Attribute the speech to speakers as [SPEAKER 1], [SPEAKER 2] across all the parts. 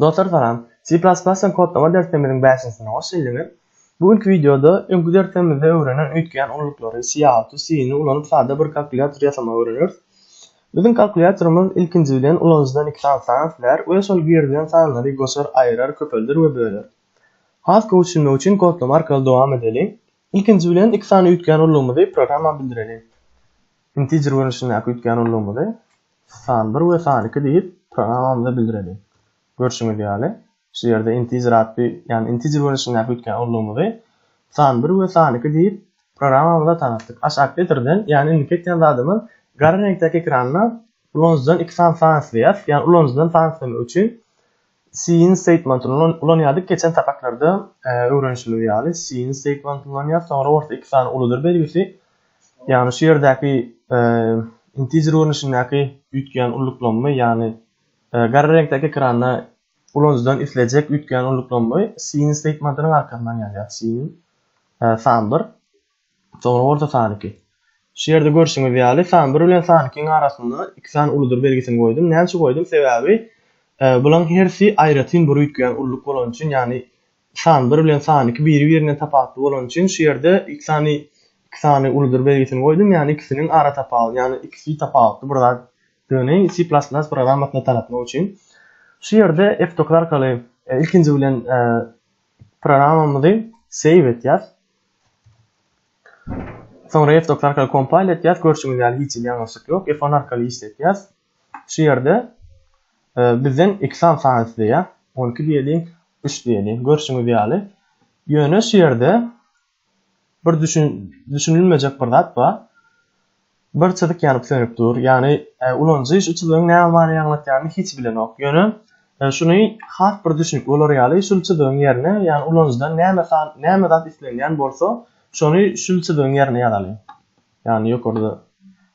[SPEAKER 1] Dostlar salam. C++ bilen kodlama derslerimiziň bäşinjisine hoş geldiňiz. Bu günki wideoda öňki derslerimizde öwrenen öýtgeýän ulylyklary, Cout-y, C-ni ulanyp sada bir kalkulýator ýasamagy öwreneris. Biziň kalkulýatorymyz ilkinji bilen ulanyjydan iki sany san islär we şol girizilen sanlary goşar, aýyrar, köpelder we böler. Has gowy düşünmek üçin kodlama arkaly dowam edeliň. Ilkinji bilen iki sany öýtgeýän ululygymyzy programma bildireliň. Integer görnüşindäki öýtgeýän ululygymyzy. San bir we san iki diýip, programamyza bildireli. Görşüňiz ýaly, şu ýerde integer atly, ýagny integer görnüşindäki üýtgän urlugymyzy san bir we san iki diýip, programamyza tanatdyk. Aç operatordan, ýagny indiki etýän zadymyz, gara reňkdäki ekranda ulanyjydan iki sany san isleýäris, ýagny ulanyjydan san islemek üçin Siin statement ulanýardyk geçen sapaklarda öwrenişimiz ýaly siin statement ulanýar soňra orta iki sany uludyr belgisi ýagny şu ýerdäki integer görnüşindäki üýtgeýän ulluklanma ýagny gara reňkdäki ekranda ulanyjydan islejek üýtgeýän ulluklanma siin statementynyň arkasyndan ýazýar siin san bir Soňra orta sany iki. Şu ýerde görşüňiz ýaly, san bir bilen san ikiň arasynda iki sany uludyr belgisini goýdum. Näme üçin goýdum? Sebäbi e, bularyň hersi aýratyn bir üýtgeýän ulluk bolany üçin, ýagny san bir bilen san iki biri-birinden tapawutly bolany üçin şu ýerde iki sany iki sany uludyr belgisini goýdum, ýagny ikisiniň ara tapawuty, ýagny ikisi tapawutly bir zat Döni C++ programmasyna tanatmak üçin. Şu ýerde F9 arkaly e, ilkinji bilen e, programmamyzy save etýäs. Soňra F-docs arkaly kompile etýäs, görşüňiz ýaly hiç hili ýalňyşlyk ýok, F-one arkaly işletýäs. Şu ýerde bizden iki sany san isleýär, on iki diýeliň, üç diýeliň, görşüňiz ýaly. Ýöne şu ýerde bir düşünilmejek bir zat bar. Bir çyzyk ýanyp sönüp dur. Ýagny, ulanyjy şu çyzygyň näme many aňlatýanyny hiç bilenok. Ýöne, şuny has bir düşnükli bolar ýaly, şul çyzygyň ýerine, ýagny ulanyjydan näme san, näme zat islenýän bolsa, şony şul çyzygyň ýerine ýazaly. Ýagny, ýokarda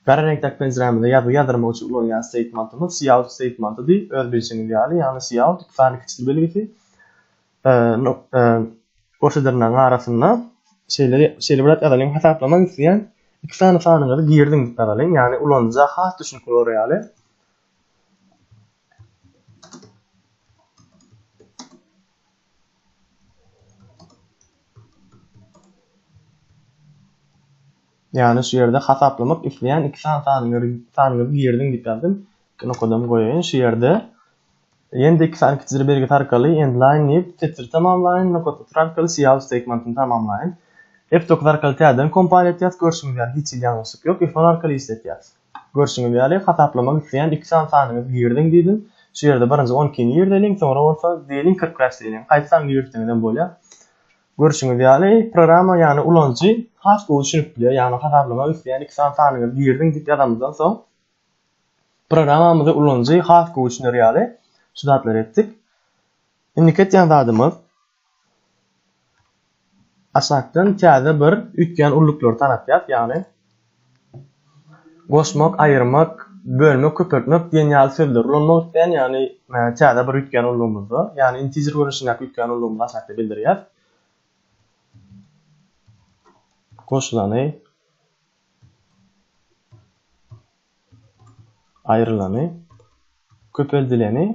[SPEAKER 1] gara reňkdäki penjirämizde ýazgy ýazdyrmak üçin ulanýan steýtmentimiz cout steýtmentidir, öz bilşiňiz ýaly, ýagny cout iki sany kiçil belgisi. Goşadyrnagyň arasynda şeýle şeýle bir zat ýazalyň, Hasaplamak isleýän iki sany sanyňyzy girdiň diýip ýazalyň, ýagny ulanyja has düşnükli bolar ýaly. Ýagny şu ýerde hasaplamak isleýän iki sany sanyňyzy girdiň diýip ýazdym. Iki nokadan goýaýyn şu ýerde. Ýene-de iki sany kiçijir belgisi arkaly Endline diýip, setir tamamlaýyn, Nokat setir arkaly Siýaw stegmantyny tamamlaýyn. F dokuz arkaly täzeden kompal etýäs, görşüňiz ýaly hiç hili ýalňyşlyk ýok, F on arkaly işletýäs. Görşüňiz ýaly, hasaplamak isleýän iki sany sanyňyzy giriziň diýdim. Şu ýerde birinji on ikini girizeliň, soňra bolsa diýeliň kyrk bäş diýeliň, haýsy sany girizseňiz hem bolýar. Görşüňiz ýaly, programma, ýagny ulanyjy has gowy düşünip bilýär, ýagny hasaplamak isleýän iki sany sanyňyzy giriziň diýip ýazanymyzdan soň, Programmamyzy ulanyjy has gowy düşüner ýaly şu zatlary etdik. Indiki etýän zadymyz aşakdan täze bir üýtgän ulluklar tanatýas, ýagny goşmak, aýyrmak, bölmek, köpeltmek diýen ýaly sözleri ulanmak isleýän, ýagny täze bir üýtgän ullugymyzda, ýagny integer görnüşindäki üýtgän ullugymyzy aşakda bildirýäs. Goşulany Aýrylany, köpeldileni,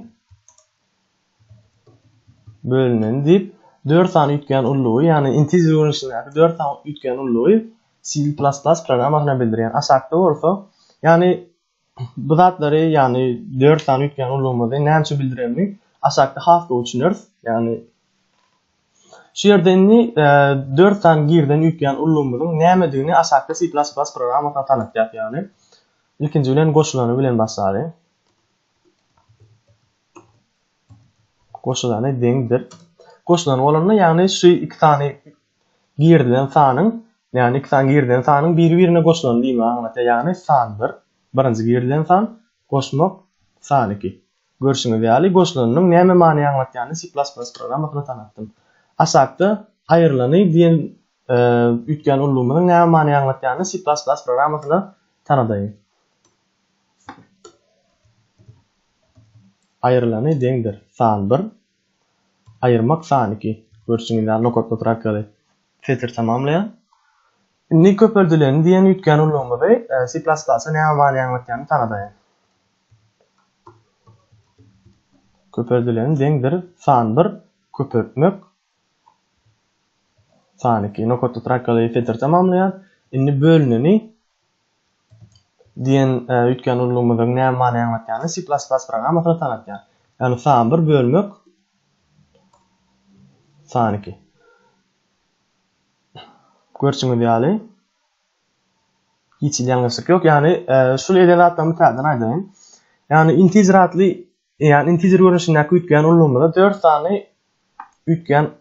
[SPEAKER 1] bölüneni diýip dört sany üýtgän ullugy, ýagny integer görnüşindäki dört sany üýtgän ullugy C++ programmasyna bildirýär. Aşakda bolsa, ýagny Bu zatlary, ýagny dört sany üýtgän ulgamymyzy nämeçe bildirenini aşakda has gowy düşüneris. Ýagny Şu ýerde indi e, dört sany girden üýtgän ulgamymyzyň nämedigini aşakda C++ programmasyna tanatýar. Ýagny ilkinji bilen goşulany bilen başlaýar. Goşulany deňdir. Goşulany bolanda, ýagny şu iki sany Girizilen sanyň, ýagny iki san girizilen sanyň biri-birine goşulany diýmegi aňladýar, ýagny san bir, birinji girizilen san, goşmak, san iki. Görşüňiz ýaly, goşulanynyň näme many aňladýanyny C++ programmasynda tanatdym. Aşakda Aýrylany diýen üýtgän ullumynyň näme many aňladýanyny C++ programmasynda tanadaýyn. Aýrylany deňdir san bir, Aýyrmak sany iki. Görşüňiz ýaly nokatly trakealy setir tamamlaýar. Indi köpeldilen diýen üýtgän ulgamymyzy C++ a näme many aňlatýanyny tanadaýyn. Köpeldilen deňdir san bir köpeltmek san iki nokatly trakealy setir tamamlaýar. Indi bölüneni Diýen üýtgän ululygymyzyň näme many aňlatýanyny C++ programmasynda tanatýar. Ýagny sany bir bölmek sany iki. Görşüňiz ýaly hiç hili ýalňyşlyk ýok. Ýagny şul eden zatlarymy täzeden aýdaýyn. Ýagny integer atly ýagny integer görnüşindäki üýtgän ululygymyzda 4 sany üýtgän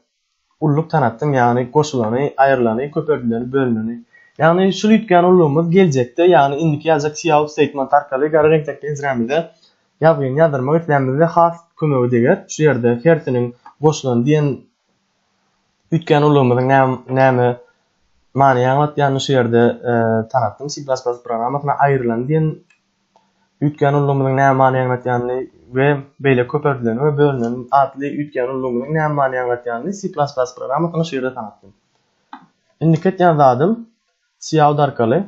[SPEAKER 1] Ulluk tanatdyň, ýagny goşulany, aýrylany, köpeldileni, bölüneni. Ýagny şul üýtgän ullugymyz geljekde, ýagny indiki ýazjak Xiao Statement arkaly gara reňkdäki ezrämize ýazgyny ýazdyrmak islänimizde has kömegi deger. Şu ýerde hersiniň goşulany diýen üýtgän ullugymyzyň näme näme manyny aňlatýanyny şu ýerde tanatdym. C++ programmasyna aýrylany diýen üýtgän ulgamynyň näme many aňladýanyny we beýleki köp örtüleni we bölüneni atly üýtgän ulgamynyň näme many aňladýanyny C++ programmasyna şiirde tanatdym. Indiki etýän zadym cout arkaly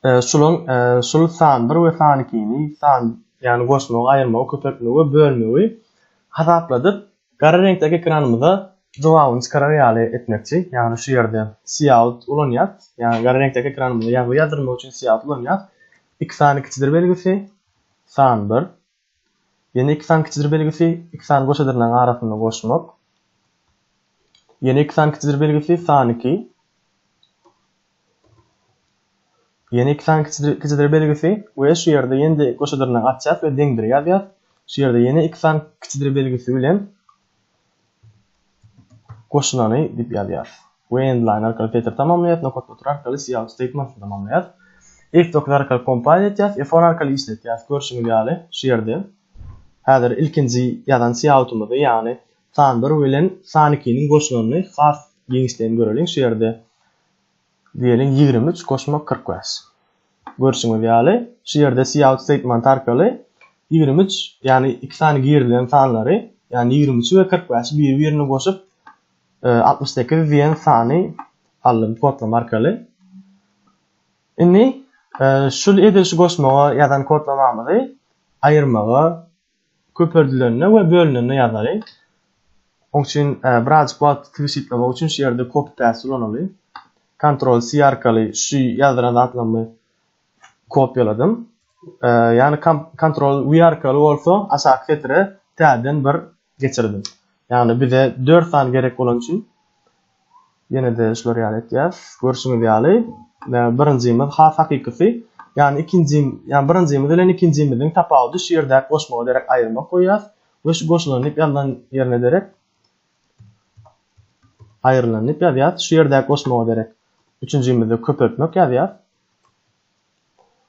[SPEAKER 1] şulaň şul san bir we san ikini san ýagny goşmagy aýyrmagy köpeltmegi we bölmegi hasapladyp Gara reňkdäki ekranymyza jogabyny çykarar ýaly etmekçi, ýagny şu ýerde Siýaut ulanýas, ýagny gara reňkdäki ekranymyza ýazgy ýazdyrmak üçin Siýaut ulanýas. Iki sany kiçidir belgisi, san bir. Ýene iki sany kiçidir belgisi, iki sany goşa dyrnagyň arasynda goşmak. Ýene iki sany kiçidir belgisi, san iki. Ýene iki sany kiçidir belgisi we şu ýerde ýene-de goşa dyrnak açýas we deňdir ýazýas. Şu ýerde ýene iki sany kiçidir belgisi bilen goşulany diýip ýazýas. We endline arkaly filtr tamamlaýas, nokat otur arkaly cout statement tamamlaýas. F9 arkaly compile etýäs, F10 arkaly işletýäs. Görşüňiz ýaly şu ýerde häzir ilkinji ýazan coutymyzy, ýagny san 1 bilen san 2-niň goşulanyny has giňişleýin göreliň. Şu ýerde Diýeliň, ýigrimi üç goşmak kyrk bäş. Görşüňiz ýaly, şu ýerde Cout Statement arkaly ýigrimi üç, ýagny iki sany girilen sanlary, ýagny ýigrimi üçi we kyrk bäşi biri-birine goşup, altmyş sekiz diýen sany aldym kodlama arkaly. Indi şu edil şu goşmaga ýazan kodlamamyzy aýyrmaga köperdilende we bölünende ýazaly. Oň üçin birazajyk wagty tygşytlamak üçin şu ýerde copy paste ulanaly. Ctrl C arkaly şu ýazdyran zatlarymy kopýaladym. Ýagny Ctrl V arkaly bolsa aşaky setire täzeden bir geçirdim. Ýagny bize 4 sany gerek bolany üçin Ýene-de şular ýaly etýäs. Görşüňiz ýaly, birinjimiz has hakykysy. Ýani ikinji, ýani birinjimiz bilen ikinjimiziň tapawudy şu ýerdäki goşmaga derek aýyrmak goýýas we şu goşulan diýip ýazylan ýerine derek aýrylan diýip ýazýas. Şu ýerdäki goşmaga derek üçünjimizde köpeltmek ýazýas.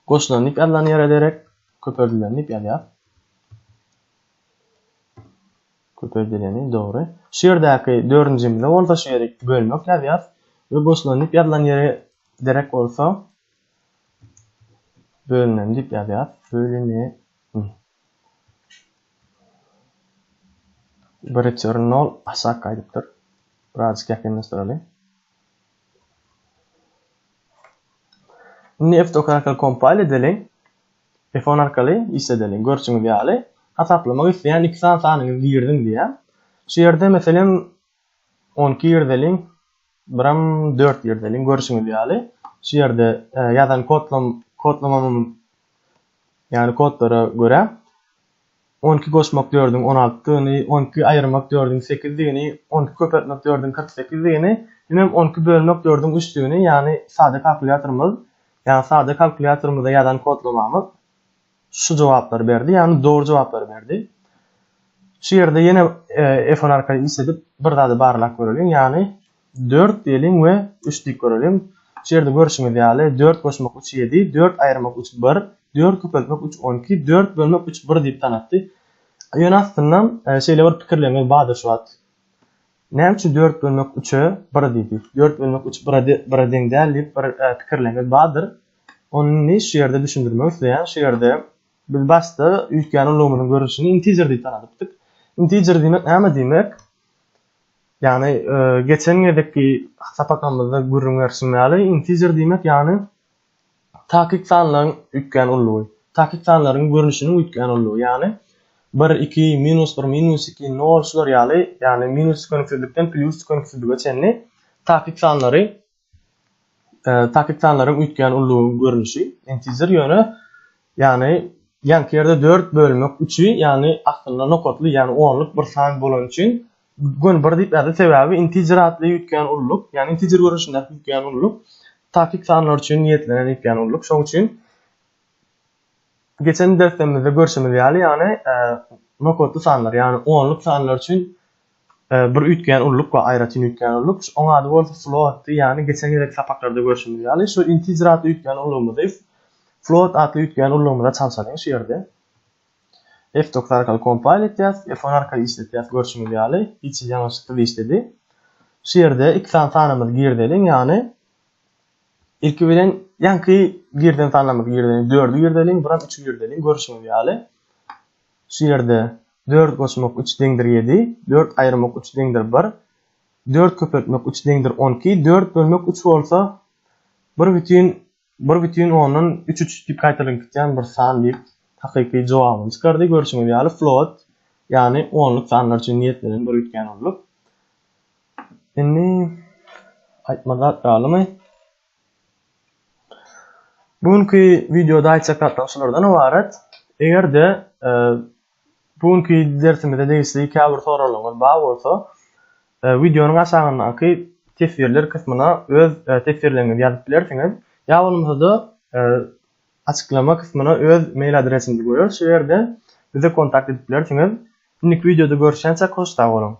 [SPEAKER 1] Goşulan diýip ýazylan ýere derek köpeldilen diýip ýazýas. Köpeldileni, dogry. Şu ýerdäki dördünjimizde bolsa şu ýeri iki bölmek ýazýas we goşulan diýip ýazylan ýeri derek bolsa bölünen diýip ýazýas. Bölüne n. Bir return nol aşak gaýdypdyr. Birazjyk ýakynlaşdyraly. Indi f-dokarakel kompal edeli. Telefon arkaly işledeli. Görşüňiz ýaly, hasaplamak isleýän iki sany sanyňyzy giriziň diýýär. Şu ýerde, meselem, on iki girizeliň, biram dört girizeliň. Görşüňiz ýaly, şu ýerde ýazan kodlamamyň, ýagny kodlara görä, On iki goşmak dördüň on altydygyny, on iki aýyrmak dördüň sekizdigini, on iki köpeltmek dördüň kyrk sekizdigini, hemem on iki bölmek dördüň üçdigini, ýagny sada kalkulýatorymyz, ýagny sada kalkulýatorymyzda ýazan kodlamamyz şu jogaplary berdi, ýagny dogry jogaplary berdi. Şu ýerde ýene F on arkaly işledip bir zady barlap göreliň, ýagny Dört diýeliň we üç diýip göreliň. Şu ýerde görşüňiz ýaly, dört goşmak üç ýedi, dört aýyrmak üç bir, dört köpeltmek üç on iki, dört bölmek üç bir diýip tanatdy. Ýöne aslynda şeýle bir pikirleriňiz bardyr şu wagt. Näme üçin dört bölmek üçe bir diýdi? Dört bölmek üç bire bire deň däl diýip bir pikirleriňiz bardyr. Ony indi şu ýerde düşündirmek isleýän. Şu ýerde biz başda üýtgän ulagymyzyň görnüşini integer diýip tanadypdyk. Integer diýmek näme diýmek? Ýagny geçen gezekki sapakamyzda gürrüň berşim ýaly, integer diýmek ýagny takyk sanlaryň üýtgän ullugy. Takyk sanlaryň görnüşiniň üýtgän ullugy. Ýagny bir, iki, minus bir, minus iki, nol şular ýaly, ýagny minus tükeniksizlikden plýus tükeniksizlige çenli takyk sanlary Takiktsanlaryň üýtgän ullugyň görnüşi intizir ýöne ýagny ýanky ýerde dört bölmek üçi ýagny aslynda nokatly ýagny onluk bir san bolany üçin göni bir diýip ýazdy sebäbi intizir atly üýtgän ulluk ýagny intizir görnüşindäki üýtgän ulluk takik sanlar üçin niýetlenen üýtgän ulluk şoň üçin geçen derslerimizde görşümiz ýaly ýagny nokatly sanlar ýagny onluk sanlar üçin Bir üýtgeýän ulluk bar, aýratyn üýtgeýän ulluk. Oň ady bolsa floatdy, ýagny geçen gezekki sapaklarda görşümiz ýaly, şu integer atly üýtgeýän ullugymyzy float atly üýtgeýän ullugymyza çalşalyň şu ýerde. F-dokuz arkaly kompile etýäs, F-on arkaly işletýäs, görşümiz ýaly, hiç hili ýalňyşyksyz işledi. Şu ýerde iki sany sanymyzy girizeliň, ýagny ilki bilen ýaňky girizen sanlarymyzy girizeliň, dördi girizeliň, bir hem üçi girizeliň, görşümiz ýaly, Şu ýerde dört goşmak üç deňdir ýedi, dört aýyrmak üç deňdir bir, dört köpeltmek üç deňdir on iki, dört bölmek üç bolsa, bir bütin bir bütin ondan üç üç diýip gaýtalanip gitýän bir san diýip, hakyky jogabyny çykardy. Görşüňiz ýaly, float, ýagny onluk sanlar üçin niýetlenen bir üýtgän onluk. Indi aýtmaly zat galymy? Bu günki wideoda aýtjak zatlarym şulardan ybarat. Eger-de e, bu günki dersimize degişli käbir soraglaryňyz bar bolsa, e, wideonyň aşagyndaky teswirler kysmyna öz e, teswirleriňizi ýazyp bilersiňiz. Ýa bolmasa-da açyklama kysmyna öz mail adresimizi goýarys. Şu ýerde bize kontakt edip bilersiňiz. Indiki wideoda görüşýänçäk hoş sag boluň.